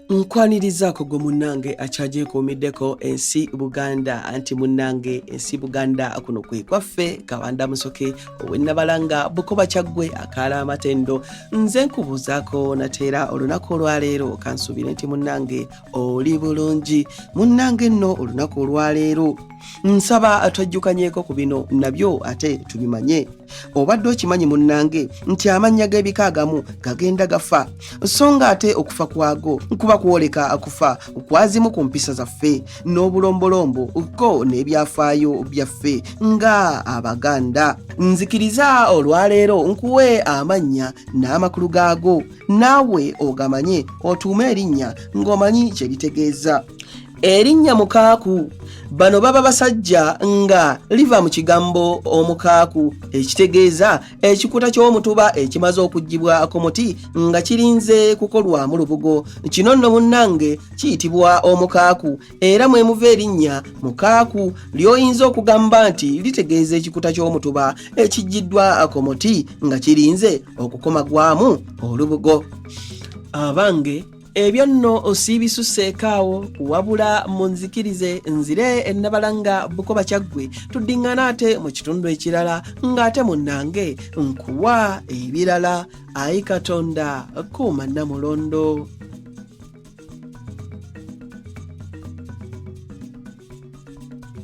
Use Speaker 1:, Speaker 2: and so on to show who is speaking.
Speaker 1: nkwanirizaako gwe munnange akyagyekuumiddeko ensi buganda anti munnange ensi buganda kuno kwe kwaffe kabanda musoke owennabalanga bukoba kyaggwe akaala amatendo nze nkubuuzaako nateera olunaku olwaleero kansuubire nti munnange oli bulungi munnange nno olunaku olwaleero nsaba twajjukanyeko ku bino nabyo ate tubimanye obadde okimanyi munnange nti amannya g'ebika agamu gagenda gafa so nga ate okufa kwago kuba kwoleka akufa kwazimu ku mpisa zaffe n'obulombolombo ko n'ebyafaayo byaffe nga abaganda nzikiriza olwaleero nkuwe amannya n'amakulu gaago naawe ogamanye otuume erinnya ng'omanyi kye bitegeeza erinnya mukaaku bano baba basajja nga liva mu kigambo omukaaku ekitegeeza ekikuta ky'omutuba ekimaze okugibwa ku muti nga kirinze kukolwamu lubugo kino nno munnange kiyitibwa omukaaku era mwe muva erinnya mukaaku ly'oyinza okugamba nti litegeeza ekikuta ky'omutuba ekiggiddwa ku muti nga kirinze okukomagwamu olubugo abange ebyo nno osiibisuseeko awo wabula munzikirize nzire ennabalanga bukoba kyaggwe tuddiŋŋana ate mu kitundu ekirala ng'ate munnange nkuwa ebirala ayi katonda kuuma nnamulondo